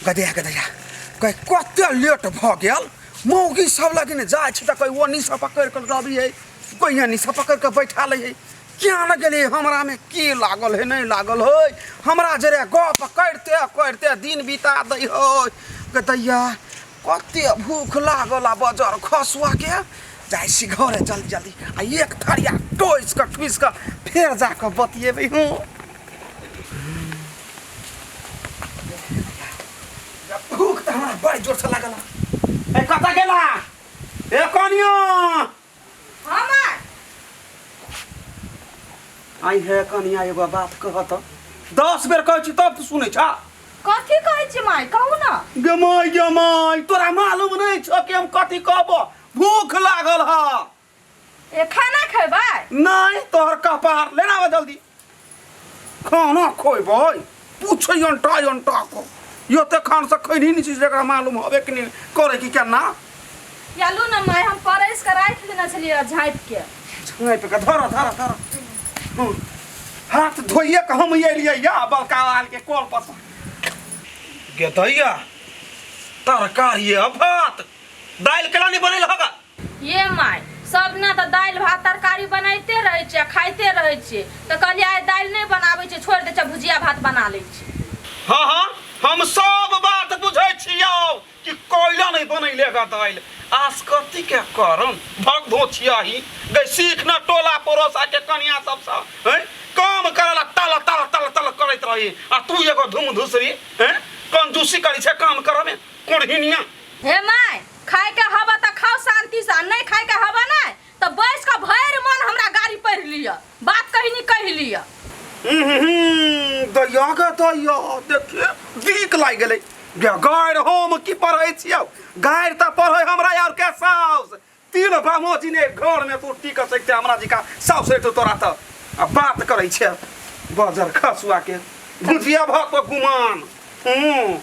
गदया गदया कह कते लेट भऽ गेल मौगी सब लगिन जाइ छै तऽ कहि ओ निशा पकड़ि कऽ रवि है कहिया निशा पकड़ि कऽ बैठा लै है किया न गेलै हमरामे की लागल है नहि लागल है हमरा जरे गप करिते करिते दिन बिता दै है के दैया कते भूख लागल आ बजर खसुआ के जाइ छी घरे जल्दी जल्दी आ एक थरिया टोसि कऽ ठुसि कऽ फेर जा कऽ बतियेबै हूँ भूख तऽ हमरा बड़ जोर से लागल है। ए कतऽ गेला ए कनियो हाँ माय आई है कनिया एगो बात कहत दस बेर कहै छी तब तू सुनै छा कथी कहै छी माय कहू ना गमाय गमाय तोरा मालूम नहीं छो कि हम कथी कहबो भूख लागल ह ए खाना खेबै नहीं तोहर कपार लेना आवा जल्दी खाना खोबे पूछे अंटा अंटा को यो ते खान से खैनी नहीं चीज जरा मालूम हवे कि नहीं करे कि क्या ना चलू ने माय हम परस के राख लेना छलिए झाँप के छुए पे का धरा धरा धरा हम्म। हाथ धोइए के हम ये लिए या बलका वाल के कोल पर से। गेतैया तरकारी आ भात दाल केला नहीं बनेल होगा ये माय, सब दिना तँ दालि, भात, तरकारी बनैते रहै छी आ खाइते रहै छिऐ। तँ कहलिऐ आइ दालि नहि बनाबै छिऐ, छोड़ि दै छी आ भुजिया, भात बना लै छी। हँ हँ, हम सब बात बुझै छिऐ कि कैला नहि बनैले गऽ दालि। आसकत्तीके करम भक धोछियाही। गै सीख ने टोला पड़ोसाके कनियाँ सबसँ। हैं, काम करैले तल तल तल तल करैत रहैए आ तू एगो धुमधुसरी। हैं, कंजूसी करै छेँ काम करैमे। कोढ़िनियाँ। Hey my. खाय के हवा त खाओ शांति से आ नहीं खाय के हवा नहीं त बैस के भैर मन हमरा गाड़ी पढ़ लिया बात कहीं नहीं कह लिया हम्म, दैया गे दैया देखिए दीक लागि गेलै गे गाड़ि हम की पढ़ै छियौ गाड़ि तऽ पढ़ै हमरा यार के साउस तीन बामोजी ने घरमे तू टीक सकते हमरा जिका साउस हेतौ तोरा तऽ आ बात करै छै बजर खसुआ के भुजिया भात पर गुमान हूँ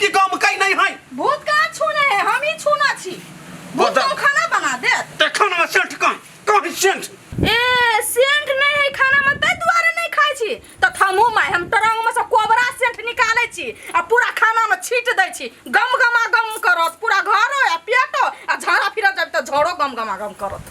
कि गाँव में कहीं नहीं है भूत कहाँ छूने है हम ही छूना छी भूत बता- तो खाना बना दे ते खाना में सेठ कहाँ कहाँ है सेठ ए सेंट नहीं है खाना में ते दुआरे नहीं खाई छी तो थमू मैं हम तरंग में से कोबरा सेंट निकाले छी आ पूरा खाना में छीट दै छी गम गमा गम करत पूरा घरो आ पेटो आ झाड़ा फिरत जब तो झोड़ो गम गमा गम करत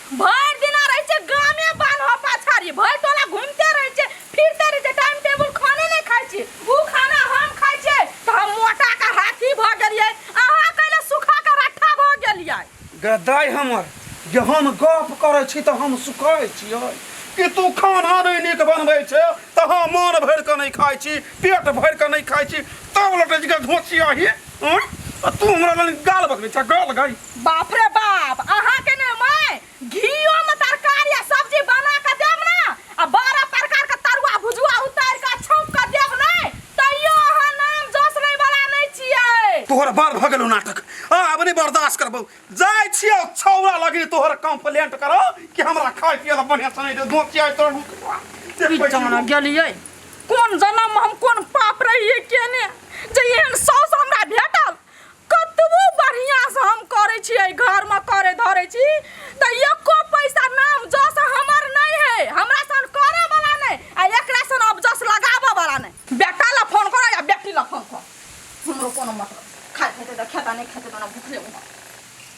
भरि दिना रहै छै गामे बान्हो पाछारी भरि टोला घूमते रहै छै फिरते रहै छै टाइम टेबुल खाने नहि खाइ छी ओ खाना हम खाइ छियै तऽ हम मोटा के हाथी भऽ गेलियै अहाँ कैले सुखा के रट्ठा भऽ गेलियै गदाइ हमर जे हम गप करै छी तऽ हम सुखाइ छियै कि तू खाना नहि नीक बनबै छै तऽ हम मोन भरि कऽ नहि खाइ छी पेट भरि कऽ नहि खाइ छी तब लटै छी घोसिया ही तू हमरा लग गाल बकबै छै गाल गई बाप रे बाप अहाँ के ने मैं घीओ में तरकारी आ सब्जी बना के देब ना आ बारह प्रकार के तरुआ भुजुआ उतार के छौंक के देब ना तैयो अहाँ नाम जोश ले वाला नहीं छियै तोहर बड़ भऽ गेलौ नाटक आ आब नहि बर्दाश्त करबौ जाइ छियौ छौरा लगी तोहर कंप्लेंट करौ कि हमरा खाय पियै लए बढ़िया से नहि दे दो छियै तोहर मुखवा। जे की पैसा जाना गेलियै कोन जन्म में हम कोन पाप रहियै केने जे एहन सौस हमरा भेटल कतबो बढ़िया से हम करे छी ए घर में करे धरे छी त एको पैसा नाम जस हमर नहीं है हमरा सन करे वाला नहीं आ एकरा सन अब जस लगावे वाला नहीं बेटा ला फोन कर या बेटी ला फोन कर हमरो कोनो मतलब खाए खेते त खेता नहीं खेते त ना भूखले उमर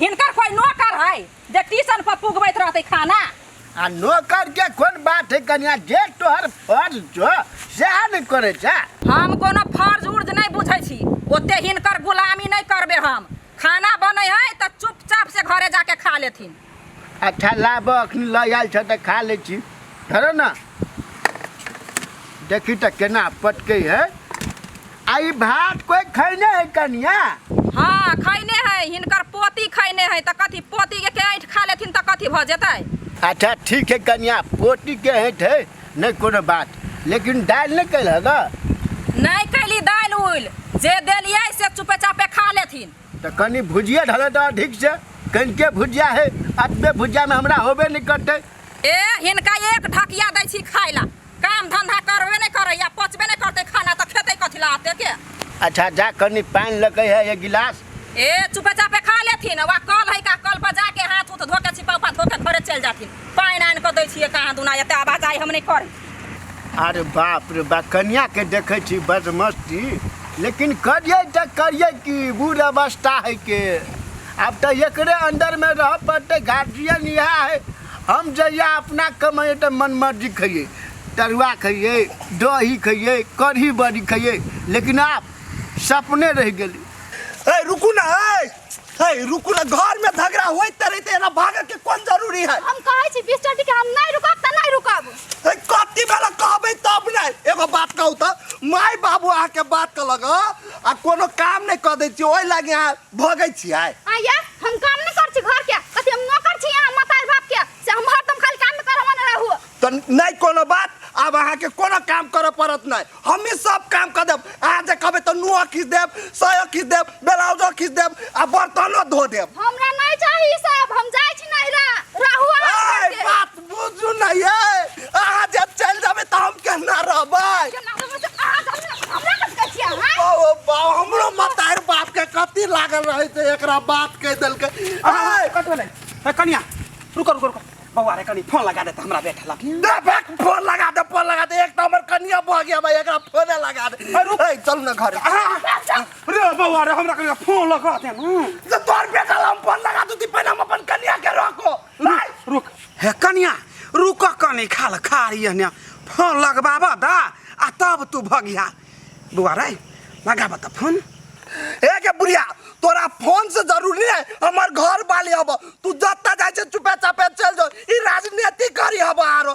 हिनकर कोई नौकर है जे टीसन पर पुगबैत रहते खाना आ नौकर के कोन बात है कनिया जे तोहर फर्ज छो सएह ने करे छै हम कोनो फर्ज उर्ज नहीं बुझे छी ओते हिनकर गुलामी नहीं करबे हम खाना बने है तो चुपचाप से घरे जाके खा लेथिन अच्छा लाब अखन ल आयल छ त खा ले छी धरो न देखी त केना पटके है आ ई भात कोइ खैने है कनिया हाँ खैने है हिनकर पोती खैने है तऽ कथी पोती के के ऐंठ खा लेथिन तऽ कथी भऽ जेतै अच्छा ठीक है कनिया पोटी के हेठ है नहीं कोनो बात लेकिन दालि नहीं कैल है ना नहि कैली दालि उल जे देलियै से चुपे चापे खा लेथिन तो कनी भुजिया ढले तो अधिक से कहीं के भुजिया है अतबे भुजिया में हमरा होबे नहीं करते ए हिनका एक ढकिया दै छी खाय ला काम धंधा करबे नहीं करे या पचबे नहीं करते खाना तो खेते कथी ला आते के अच्छा जा कनी पानी लगे है ये गिलास ए चुपे चापे खा लेथिन वा कल है का कल पर जाके हाथ उथ धोके छिपा उपा धोके घरे चल जाथिन पानि आनि के दै छियै कहाँ दुना एते आवाज आइ हम नहीं करी अरे बाप रे बा कन्या के देखे छी बदमस्ती लेकिन करिए तो करिए कि बूढ़ अवस्था है के अब तो एकरे अंदर में रह पड़ते गार्जियन यहाँ है हम जहिया अपना कमाइए तऽ मन मर्जी खइए तरुआ खइए दही खइए कढ़ी बड़ी खइए लेकिन आप सपने रह गेली ए रुकू ना ए ए रुकू ना घर में झगड़ा होई तरे ते ना भागे के कोन जरूरी है हम कहै छी बीस टटी के हम नहीं रुकब तऽ नहीं रुकब ए कति बेला कहबे तब नै एगो बात कहू त माय बाबू अहाँ के बात कहलक ह, आ कोनो काम नै क दै छी ओइ लागे अहाँ भगै छियै आया हम काम नहीं कर छी घर के कथी हम नौकर छी यहाँ माता बाप के से हम हरदम खाली काम में करवा न रहू तो नहीं कोनो बात अब अहाँ के कोनो काम करे पड़त नहीं हम ही सब काम कर देब अहाँ जे कहबै तो नुआ खींच देब सयो खींच देब ब्लाउजो खींच देब आ बर्तनो धो देब हमरा नहीं चाहिए ई सब हम जाय छी नहिरा रहू आराम ए, करके। बात बुझू ना ये अहाँ जब चल जाबे त हम केना रहबै केना रहबै से अहाँ जानै ना, हमरा कथी कहै छियै अहाँ? ओ बा हमरो मतार बाप के कथी लागल रहै से एकरा बात कह देलकै आय, कट भेलै ए, कनिया रुको रुको रुको बौआ रे कनी फोन लगा दे त हमरा बेटा लग दे बैक फोन लगा दे फोन लगा दे एक तो हमर कनिया भऽ गया भाई एकरा फोने लगा दे अरे रुक। ए चल ना घर रे बौआ रे हमरा कनिया फोन लगा दे न तोर बेटा ला हम फोन लगा दूती पहिले हम अपन कनिया के रोको रुक रुक हे कनिया रुक कनी खाल खारी हने फोन लगबाब द आ तब तू भगिया बुआ रे लगाब त फोन ए के बुढ़िया तोरा फोन से जरूरी है हमार घर वाली हब तू जत्ता जाए छे चुपे चापे चल जाओ ई राजनीति करी हब आरो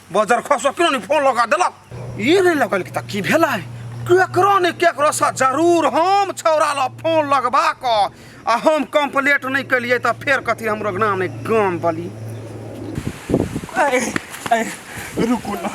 बजर खस किन नि फोन लगा देलक ई नै लगल कि त की भेलै केकरो ने केकरो सा जरूर हम छौरा ल फोन लगबा क आ हम कंप्लेंट नै केलिए त फेर कथी हमरो नाम नै गाम बली अरे अरे रुकू ना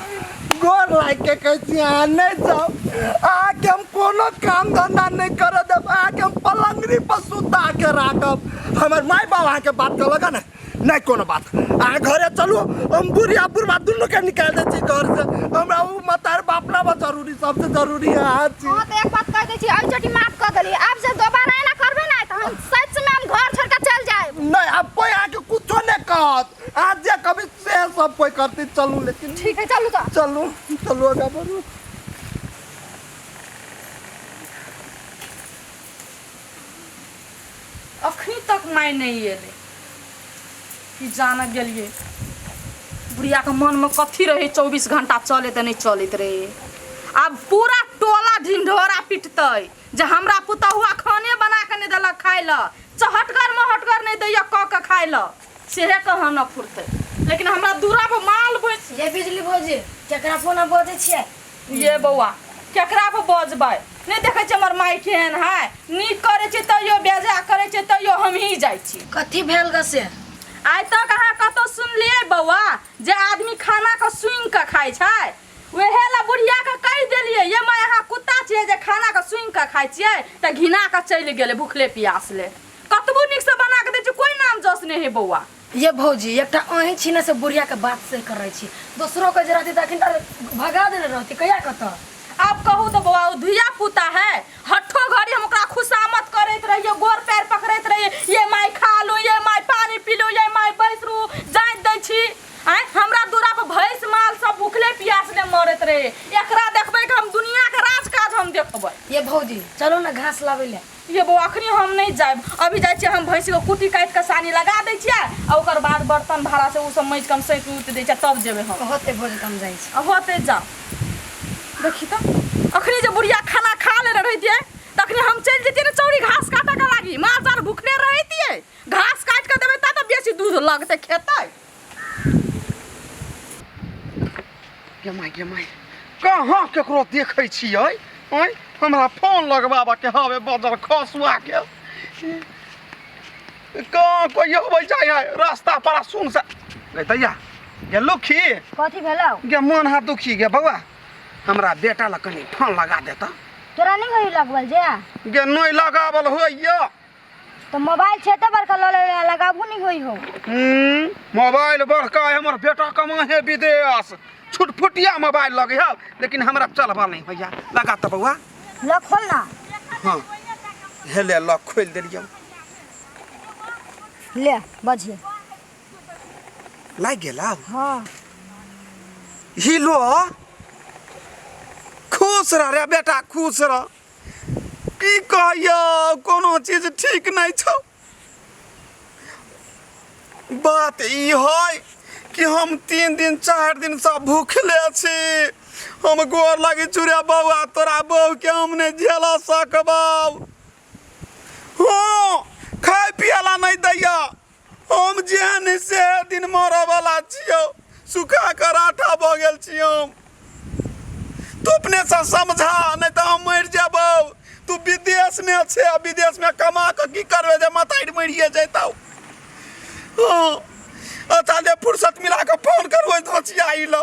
गोर लाग के कहै छी अहाँ नै जाउ अहाँके हम कोनो काम धंधा नै करऽ देब अहाँके हम पलंगरी पर सुता के राखब हमर माय बाप अहाँके बात कहलक हँ ने नहि कोनो बात अहाँ घरे चलू हम बुढ़िया बुढ़बा दुनूके निकालि दै छी घरसँ हमरा ओ मतार बाप ना बा जरूरी सबसँ जरूरी अहाँ छी अहाँ तऽ एक बात कहि दै छी एहि चोटी माफ कऽ देली आब से दोबारा एना करबै ने तऽ हम सचमे हम घर छोड़ि कऽ चलि जायब नहि आब कोइ अहाँके कुछो नहि कहत अहाँ जे कहबै से सब कोइ करतै चलू लेकिन ठीक है चलू तऽ चलू चलू आगा बढ़ू अखनी तक माय नहि एलै। की जानऽ गेलियै। बुढ़िया के मन में कथी रहै चौबीस घंटा चले तऽ नहि चलैत रहै। आब पूरा टोला ढिंढोरा पिटतै जे हमरा पुतहुआ खाने बना के नहि देलक खाय लऽ। चहटगर महटगर नहि दैया कऽ के खाय लऽ। सेहे कहनऽ फुरतै। लेकिन हमरा दूरा पर माल भैंस। ये बिजली भौजी केकरा फोन पर बजै छियै। ये बौआ केकरा पर बजबै नहि देखै छियै हमर माय केहन है नीक करै छै तैयो बेजा करै छै तैयो हमही जाइ छी कथी भेल ग से आइ तक अहाँ कतौ सुनलियै बौआ जे आदमी खाना के सुनि के खाइ छै वएह ला बुढ़िया के कहि देलियै ये माय अहाँ कुत्ता छियै जे खाना के सुनि के खाइ छियै तऽ घिना के चलि गेलै भुखले प्यासले कतबो नीक से बना के दै छी कोई नाम जस नहि है बौआ ये भौजी एकटा अहीं छी ने से बुढ़िया के बात सही कर रही छी दोसरो के जे रहती तऽ अखन तऽ भगा देने रहती कहिया कतऽ आप कहू तो बौआ ओ धुइया पुता है हठो घड़ी हम ओकरा खुशामत करैत रहिए गोर पैर पकड़ैत रहिए ये माय खा लो ये माय पानी पी लो ये माय बैस रू जाइत दै छी आय हमरा दूरा पर भैंस माल सब भूखले प्यासले मरैत रहे एकरा देखबै कि हम दुनिया के राज काज हम देखबै ये भौजी चलो ना घास लावे ले ये बौआ अखनी हम नहीं जाए अभी जाए हम भैंस के कुटी काट के सानी लगा दे और बाद बर्तन भाड़ा से सब मैज कम सैत उत दे तब जेबे हम होते भोज कम जाए होते जा देखी तो अखनी जो बुढ़िया खाना खा ले रही थी तखनी हम चल जतिए ना चौड़ी घास काटे के लागी माल जाल भूखले रही थी घास काट के देवे तब तो बेसी दूध लगते खेते जमाय जमाय कहाँ केकरो देखै छियै आँय हमरा फोन लगबाबऽके हवे बदर खसुआके कहाँ कोइ अबै जाइ है रास्ता पर सुन से गे दैया गे लुखी कथी भेलौ गे मोन हाथ दुखी गे बौआ हमरा बेटा लग कनी फोन लगा देता तोरा नहीं होई लगवल जे गे नहि लगावल होइए तो मोबाइल छे तो बड़का लो ले ले लगाबू नहीं होई हो हम्म, मोबाइल बड़का है हमर बेटा कमा है विदेश छुटफुटिया मोबाइल लगे है लेकिन हमरा चलबा नहीं भैया लगा तो बउआ लो खोल ना हाँ हे ले लॉक खोल देलियो ले बजे लाग गेला हाँ हिलो खुश रह रे बेटा खुश रह की कहैया कोनो चीज ठीक नहीं छौ बात ई है कि हम तीन दिन चार दिन से भूखले छी हम गोर लगी चूड़े बौआ तोरा बहू के हम नहीं झेल सकबौ हाँ खाए पियला नहीं दैया हम जेहन से दिन मरऽ वाला छियो सुखा के राठा भऽ गेल छी हम तू अपने से समझा नहीं तो हम मर जेबो तू विदेश में छे आ विदेश में कमा के की करबे जे मतारी मरिए जैतौ हाँ अच्छा जे फुर्सत मिला के फोन करबै तो छिया लो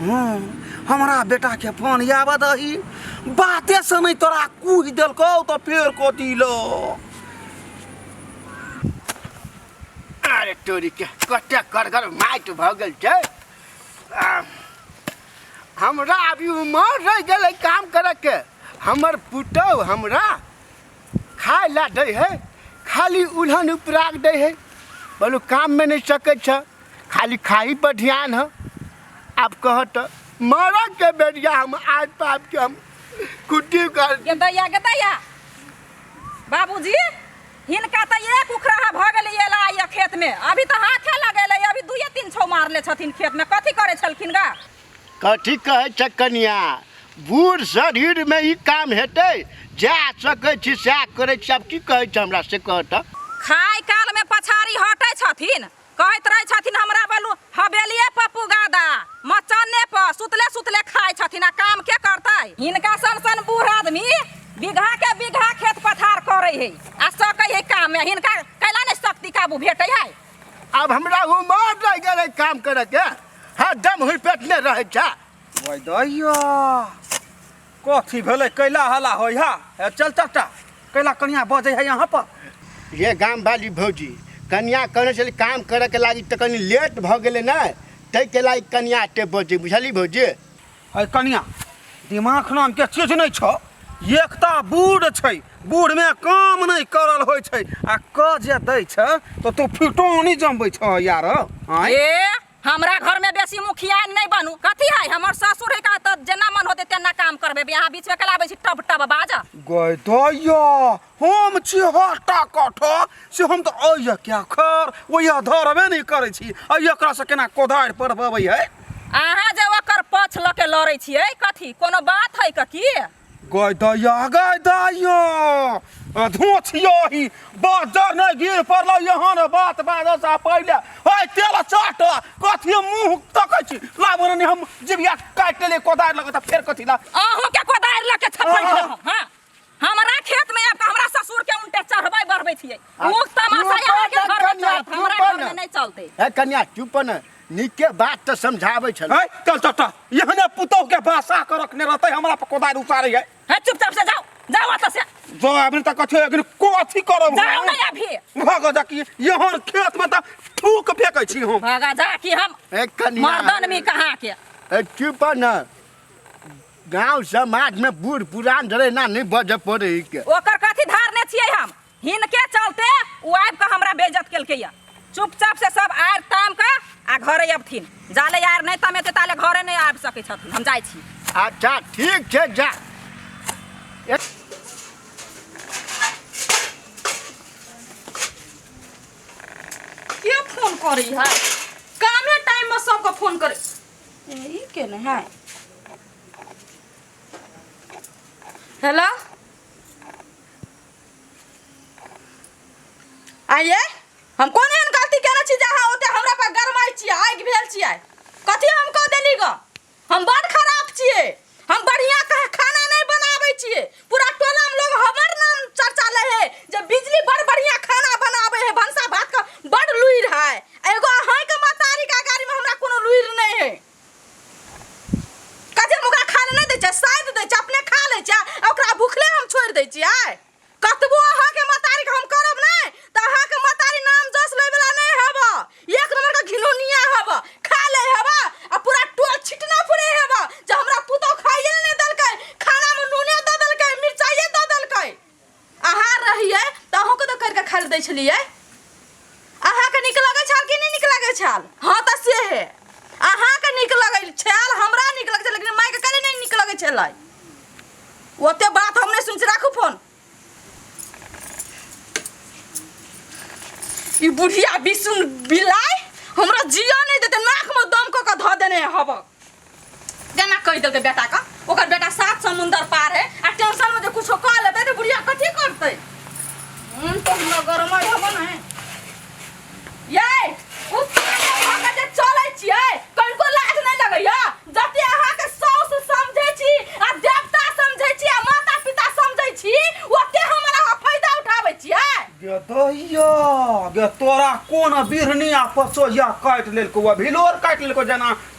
हँ हमरा बेटाके फोन आबऽ दही बाते से नहि तोरा कुहि देलकौ तऽ फेर कथी लो अरे तोरी के कते करगर माटि भऽ गेल छै आ, हमरा अभी उमर रहि गेलै काम करैके हमर पुतहु हमरा खाय लए दै है खाली उल्हन उपराग दै है बोलू काममे नहि सकै छ खाली खाही पर ध्यान है आब कह तऽ मरके बेरिया हम आज पाप के हम कुट्टी कर गेदैया गेदैया बाबूजी हिनका तऽ एक उखराहा भऽ गेलै एला आइए खेतमे अभी तऽ हाथे लगेलै अभी दुइए तीन छौ मारले छथिन खेतमे कथी करै छलखिन गा कथी कहै छै कनिया बूढ़ शरीर में ई काम हेतै जा सकै छी सएह करै छी आब की कहै छै हमरा से कह तऽ खाय काल में पछाड़ी हटै छथिन कहैत रहै छथिन हमरा बलू हवेलिए पर पुगा दा मचन्ने पर सुतले सुतले खाय छथिन आ काम के करतै हिनका सन सन बूढ़ आदमी बीघा के बीघा खेत पथार करै है आ सकै है काम में हिनका कैला ने शक्ति काबू भेटै है अब हमरा उमर रह गेलै काम करे के हाँ दम हुई पेट ने रह जा ओए दैया कथी भेलै कैला हला होइ हा हे चल तटा कैला कनिया बजे है यहाँ पर ये गाम वाली भौजी कनिया कहने छली काम करे के लागी तऽ कनी लेट भऽ गेलै ने ताहि के लागी कनिया एते बजे बुझली भौजी अरे कनिया दिमाग नाम के चीज नहीं छो एकता बूढ़ छै बूढ़ में काम नहीं करल होय छै आ क जे दै छै तो तू फिटोनी जमबै छो यार आय ए हमरा घर में बेसी मुखिया नहीं बनू कथी है हमर ससुर है का त जेना मन होते तेना काम करबे यहाँ बीच में कलाबे छी टब टब बाजा गय दया हम छी हटा कठा से हम तऽ अइया क्या खर ओइया धरबे नहि करै छी अइया एकरा से केना कोधारि पर बबै है अहाँ जे ओकर पछ लऽ के लड़ै छियै कथी कोनो बात है कथी गय दैया गय दैया धोछियो ही बाजर नहि गिर पड़ल यहाँ ने बात बाजर सा पहिले है तेल चाट कथी मुंह तकै छी लाबो ने हम जिबिया काटि ले कोदारि लगत फेर कथी ला अहूँ के कोदारि लऽ के छपै हँ, हँ। हँ हमरा खेत में आके हमरा ससुर के उल्टे चढ़बै बढ़बै छियै आ, मुख तमाशा चुप यहाँ के कर, घर में कन्या, चलत हमरा चुप घर कर। में नहीं चलते ए कन्या चुप न नीके बात तऽ समझाबै छल है चल चल चल यहने पुतोह के बासा कर रखने रहते हमरा पर कोदार उतारे है है चुपचाप से जाओ जाओ अत से जो अभी तक कथे अभी को अथी करब जाओ नहीं अभी भग जा कि यहाँ खेत में तऽ थूक फेकै छी हम भगा जा कि हम ए कन्या मर्दन में कहाँ के ए चुप न गांव समाज में बूढ़ पुरान डरे ना नहीं बजे पड़े ई के ओकर कथी धारने छियै हम हिनके चलते ओ आबि कऽ हमरा बेइज्जत केलकै या चुपचाप से सब आर ताम कऽ आ घरे अबथिन जाले यार नहि तमेते ताले घरे नहि आबि सकै छथिन हम जाइ छी अच्छा ठीक छे जा ए- के फोन करी है कामे टाइम में सबके फोन करे ई केने है हेलो आइए हम कोन एहन गलती केने छी जे अहाँ ओते हमरा पर गरमाइ छियै आगि भेल छियै कथी हम कऽ देली ग हम बड़ खराब छियै हम बढ़िया कह खाना नहीं बनावे छिए पूरा टोला में लोग हमर नाम चर्चा ले है जे बिजली बड़ बढ़िया खाना बनावे है भंसा भात का बड़ लुइर है एगो अहां के मतारी का गाड़ी में हमरा कोनो लुइर नहीं है कजे मुगा खा ले नहीं दे छै साइड दे छै अपने खा ले छै आ ओकरा भूखले हम छोड़ दे छिए कतबो अहाँ के मतारी हम करब ने त अहाँ के मतारी नाम जस ले वाला नहीं हब एक नंबर का घिनौनिया हब खा ले हब आ पूरा टोल छिटना फुरे हब जे हमरा पुतो खाइए नहीं दलकै खाना में नूने द दलकै मिर्चाइए द दलकै अहाँ रहिए त अहूँ के तो करके खा ले दै छलिए अहाँके नीक लगै छल कि नहि नीक लगै छल हँ तऽ से हे अहाँके नीक लगै छल हमरा नीक लगै छल लेकिन मायके कनि नहि नीक लगै छलै ओते बात हम नहि सुन छी राखू फोन ई बुढ़िया बिसुन बिलाइ हमरा जिया नहि देते नाकमे दम कऽ कऽ धऽ देने हबक जना कहि देलकै बेटा का ओकर बेटा सात समुंदर पार है आ टेंशन में जे कुछो कह लेते तो बुढ़िया कथी करते मन तो हमरा गरमा हबो ना है ये उ अहाँ के जे चलै छियै कनको लाज नै लगैया जते अहाँ के साउस समझै छी आ देवता समझै छी आ माता पिता समझै छी ओते हमरा अहाँ फायदा उठाबै छियै गे दैया गे तोरा कोन बिरनिया पसोहिया काटि लेलको भिलोर काटि लेलको जेना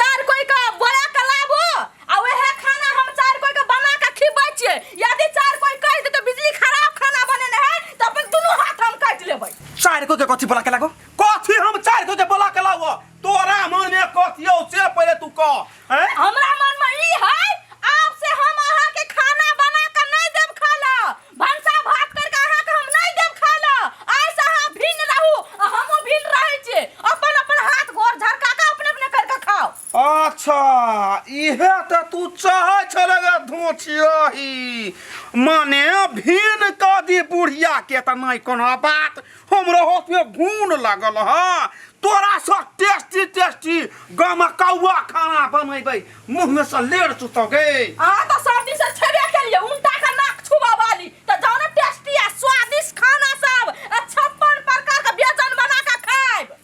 चार कोई का बोला के लाबो आ वहे खाना हम चार कोई के बना के खिबै छिए यदि चार कोई कह दे तो बिजली खराब खाना बने न है तो अपन दुनु हाथ हम काट लेबै चार को के कथी बोला के लागो कथी हम चार को के बोला के लागो तोरा मन में कथी हो से पहले तू कह हैं हमरा मन में ई है आप से हम अहा के खाना बना के नहीं देब खाला भनसा भात कर के अहाँ के हम नहीं देब खाय ल आइ से अहाँ भिन्न रहू आ हमहूँ भिन्न रहै छी अपन अपन हाथ गोर झरका के अपने अपने कर के खाओ अच्छा इहे त तू चाहे छले गे धोचियही माने भीन क दी बुढ़िया के त नहीं कोनो बात हमरा हाथ में घून लागल है तोरा से टेस्टी टेस्टी गामा कौआ खाना बनेबै मुंह में से लेर चुतोगे अहाँ तऽ सब दिन से छेबे केलियै उनटा के नाक छुबा वाली तऽ जाउ ने टेस्टी आ स्वादिष्ट खाना सब आ छप्पन प्रकार के व्यंजन बना के खायब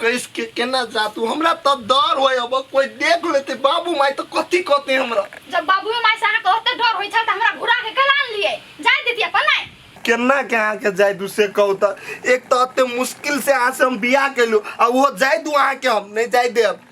कैस के केना जा तू हमरा तो डर होय अब कोई देख लेते बाबू माई तो कथी कहते हमरा जब बाबू माय से अहाँ कहते डर होई छल त हमरा घुरा के कलान लिए जाय देती अपन नहीं केना के अहाँ के जाय दू से कहू त एक तो अते मुश्किल से अहाँ से हम बियाह केलू आ वो जाय दू अहाँ के हम नहीं जाय देब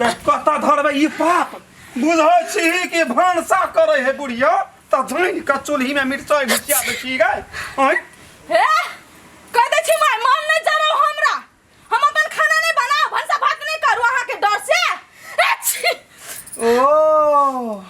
बे कता धरबे ई पाप बुझै छी कि भनसा करे है बुढ़िया त धुन के चूल्ही में मिर्चाई भिचिया दे छी गए ओए हे कह दे छी माय मन नहीं जरो हमरा हम अपन खाना नहीं बना भनसा भात नहीं करू अहाँ के डर से ए छी ओ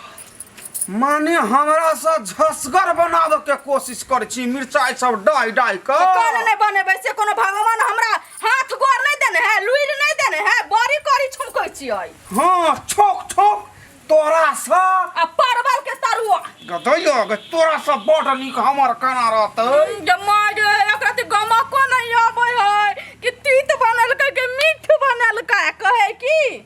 माने हमरा से झसगर बनावे के कोशिश कर छी मिर्चाई सब डाई डाई के तो काहे नहीं बनेबै से कोनो भगवान हमरा हाथ गोर नहीं देने है लुइर नहीं देने है बड़ी करी छुमकै छियै हाँ छोक छोक तोरा से आ परवल के तरुआ गदैया गे तोरा से बड़ नीक हमर केना रहतै जम्मा जे एकरा त गमको नहीं आबै है कि तीत बनलकै कि मीठ बनलकै कहे की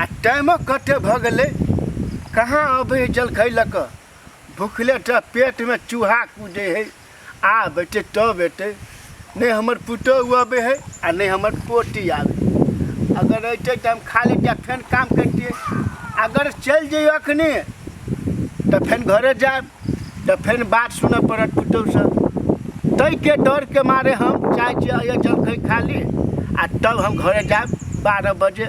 आ टाइमो कते भऽ गेलै कहाँ अबै जलखै लऽ कऽ भुखले टा पेटमे चूहा कूदै हइ आब एतै तब एतै नहि हमर पुतहु अबै हइ आ नहि हमर पोती आबै अगर अयतै तऽ हम खा लेतियै फेन काम करितियै अगर चलि जइयो एखने तऽ फेन घरे जायब तऽ फेर बात सुनऽ पड़त पुतौहसँ ताहिके डरके मारे हम चाहै छी अइए जलखै खा ली आ तब हम घरे जायब बारह बजे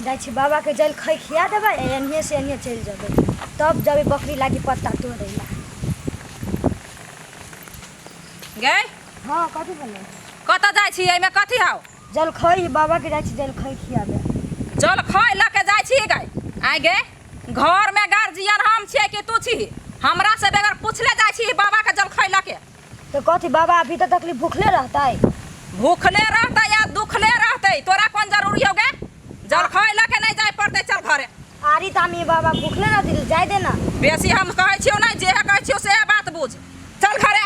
जाइ छी बाबाके जलखै खिया देबै आ एन्हिए से एन्हिए चलि जेबै तब जेबै बकरी लागी पत्ता तोड़ै लए गै हँ कथी भेलै कतऽ जाइ छी एहिमे कथी हौ चल खई बाबा के जाय छी चल खई खियाबे चल खै लऽ के जाइ छी गै आइ गे घर में गार्जियन हम छियै कि तू छी हमरा से बगैर पूछले जाइ छी बाबा के जल खै लऽ के तो कथी बाबा अभी तक तकली भूखले रहतै भूखले रहतै या दुखले रहतै तोरा कोन जरूरी हो गे जल खै लऽ के नहीं जाय पड़तै चल घरे आरी तामी बाबा भूखले रहती तो जाय देना बेसी हम कहै छियौ नहीं जे कहै छियौ से बात बुझ चल घरे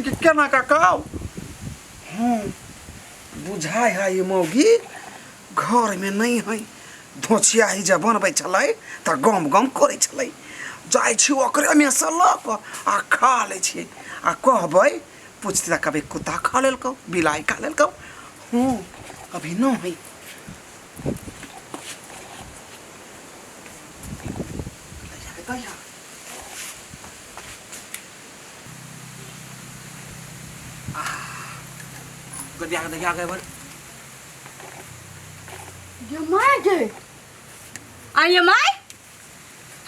ई के केना का काव हाँ बुझाय है ये मौगी घर में नहीं है धोछिया ही जब बनबै छलै तऽ गम गम करै छलै जाइ छी ओकरे में से लऽ कऽ आ खा लै छियै आ कहबै पूछते तऽ कहबै कुत्ता खा लेलकौ बिलाइ खा लेलकौ हूँ अभी न है Good job, good job, everyone. ये माय गे आ ये माय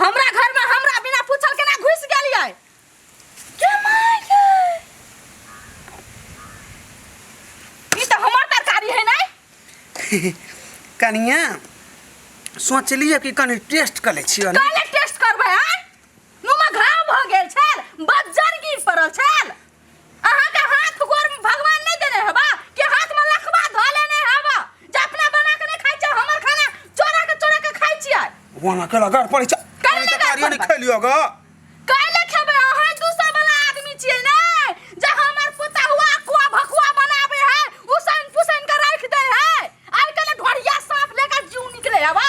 हमरा घर में हमरा बिना पूछल केना घुस गेलिए ये माय गे ई त हमर तरकारी है नै कनिया सोचलिए कि कनि टेस्ट कर ले छियै ने काले टेस्ट करबै हैं मुँहमे घाव भऽ गेल छल बज्जर गिर पड़ल छल अहाँके हाथ गोर भगवान नहि देने हेबा कि हाथमे लखबा धऽ लेने हेबा जे अपना बना के नहि खाइ छियै हमर खाना चोरा के चोरा के खाइ छियै वहां के लगा पड़े छ काहे लगा तरकारी पड़बै? नहीं खेलियो ग काहे खेबै अहाँ दूसरा वाला आदमी छियै ने जे हमर पोता हुआ कुआ भकुआ बनाबे है उसैन पुसैन के राख दे है आइ काल्हि ढोरिया साफ लेकर जीव निकले है बा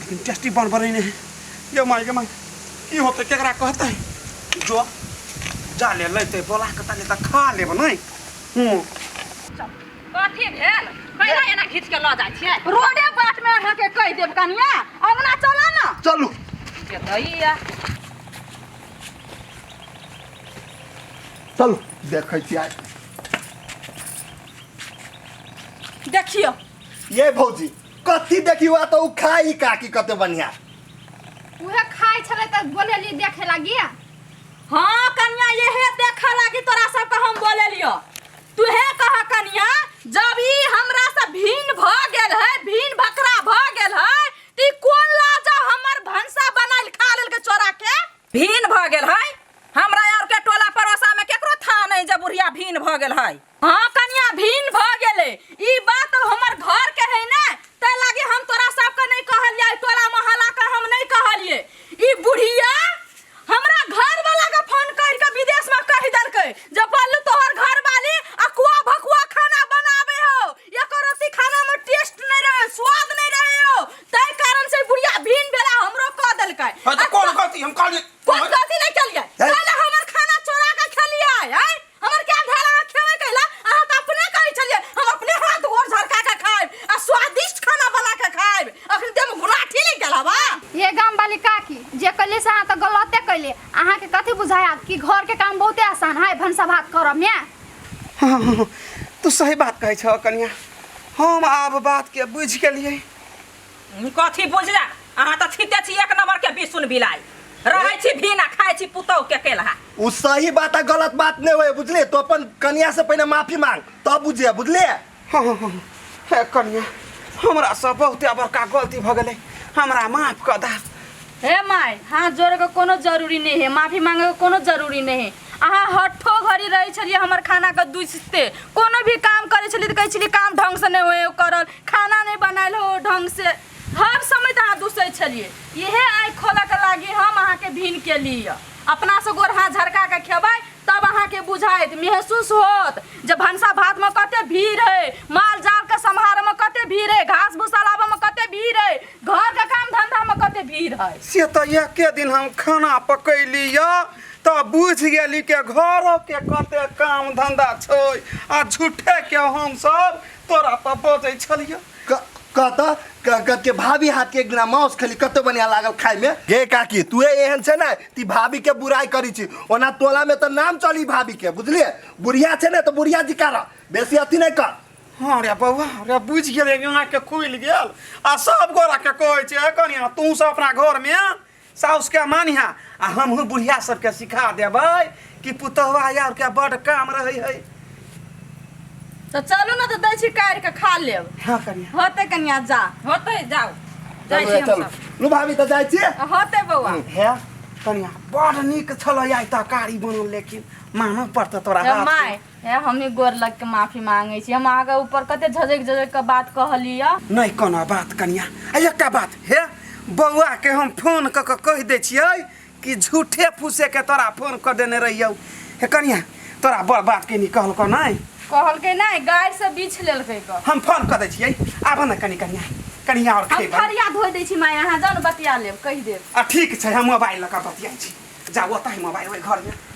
लेकिन टेस्टी बन बने नहीं ये माय गे माय की होते केकरा कहते जो जा ले लेते बोला के तनी त खा लेब नहीं हूं कथी भेल कैला एना घीच के ल जाइ छियै रोडे बाट में अहाँ के कहि देब कनिया अंगना चला ना चलू के दैया चलू देखै छी आज देखियो ये भौजी कथी देखी हुआ तो उ खाई काकी कते बढ़िया उहे खाइ छलै तऽ बोलेली देखे लागी हाँ कनिया यहे देखा लागी तोरा सबके हम बोले लियो तुहे कह कनिया जब ई हमरा से भीन भ गेल है भीन भकरा भ गेल है ती कोन लाजा हमर भंसा बनाइल खा लेल के चोरा के भीन भ गेल है हमरा यार के टोला पड़ोसा में केकरो था नहीं जब बुढ़िया भीन भ गेल है हाँ कनिया भिन्न भ गेले ई बात तो हमर घर के है ना ते लागे हम तोरा सबके नहीं कहलिए तोरा मोहल्ला के हम नहीं कहलिए ई बुढ़िया हमरा घर वाला के फोन कर के विदेश में कह देलके जे बोलू तोहर घर वाली अकुआ भकुआ खाना बनावे हो एको रोटी खाना में टेस्ट नहीं रहे स्वाद नहीं रहे हो तै कारण से बुढ़िया भिन्न भेला हमरो कह देलके हाँ तो कौन गलती हम कहलिए कौन गलती नहीं कलिए ए? साला हमर खाना चोरा के खेलिए हैं हमर क्या धैल अहाँ खेबे कैला अहाँ तऽ अपने कहै छलियै हम अपने हाथ गोर झरका के खाएब आ स्वादिष्ट खाना बना के खाएब अखन देह में गुलाठी लग गेल हवा ये गाम वाली काकी जे कैले से अहाँ तऽ गलते कैले अहाँ के कथी बुझाया कि घर के काम बहुते आसान है भनसा भात करब ने हाँ, हाँ, हाँ, तू सही बात कहै छह कनिया हम आब बात के बुझि गेलियै कथी बुझले अहाँ तऽ छिते छी एक नंबर के बिसुन बिलाई रहै छी भीन आ खाइ छी पुतौ के केलहा उ सही बात आ गलत बात नहीं होए बुझले तो अपन कनिया से पहले माफी मांग तब बुझे बुझले हाँ हाँ हाँ हे कनिया हमरा से बहुते बड़का गलती भ गेलै हमरा माफ कर दा हे माय हाथ जोड़े के कोनो जरूरी नहीं है माफी मांगे के कोनो जरूरी नहीं है अहाँ हठो घड़ी रहै छलियै हमर खानाके दुसिते कोनो भी काम करै छलियै तऽ कहै छलियै काम ढङ्गसँ नहि होइ करल खाना नहि बनायल हो ढङ्गसँ हर समय तऽ अहाँ दुसै छलियै इएह आइ खोलऽके लागि हम अहाँके भिन केली यऽ अपनासँ गोर हाथ झरका कऽ खेबै तब अहाँके बुझाइत महसूस होत जे भनसा भातमे कते भीड़ हइ माल जालके सम्हारऽमे कते भीड़ हइ घास भूसा लाबऽमे कते भीड़ हइ घरके काम धन्धामे कते भीड़ हइ से तऽ एके दिन हम खाना पकैली यऽ तऽ बुझि गेली के घरो के कते काम धंधा छै आ झूठे के हम सब तोरा पर बजै छलियो क- कत क- क- के भाभी हाथ के एक दिना माउस खेली कते बढ़िया लागल खाय में गे काकी तू एहन छै ने ती भाभी के बुराई करी छी ओना टोला में तो नाम चली भाभी के बुझलिए बुढ़िया छै ने तो बुढ़िया जी कर बेसी अथी नहीं कर हाँ रे बौआ रे बुझ गेले यहाँ के खुल गेल आ सब गोरा के कहै छै "ए कनिया तू सब अपना घर में साउस के मानिहा आ हमहू बुढ़िया सबके सिखा देबै कि पुतहवा यार के बड काम रहै है तो चलू ना तो दै छी काट के खा लेब हाँ कनिया होते कनिया जा होते जाओ जाइ चलू छी चलू हमसब लू भाभी तऽ जाइ छियै होते बौआ हे कनिया बड नीक छलै आइ तरकारी बनल लेकिन मानऽ पड़तै तोरा ए, हाथ माय हे हमही गोर लग के माफी मांगे छी हम अहाँ के ऊपर कते झजक झजक के बात कहलिय नहीं कोनो बात कनिया आ एकटा बात हे बौआ के हम फोन क के कह दे छियै कि झूठे फूसे के तोरा फोन कर देने रहियौ हे कनिया तोरा बड़ बात के निकल को नहीं कहल के नहीं गाय से बीछ लेल के क हम फोन कर दे छियै आबो ना कनी कनिया कनिया और हम खेबा थरिया धोइ दै छी माय अहाँ जान बतिया लेब कहि देब आ ठीक छै हम मोबाइल लऽ कऽ बतियाइ छी जाउ ओतऽ मोबाइल ओहि घरमे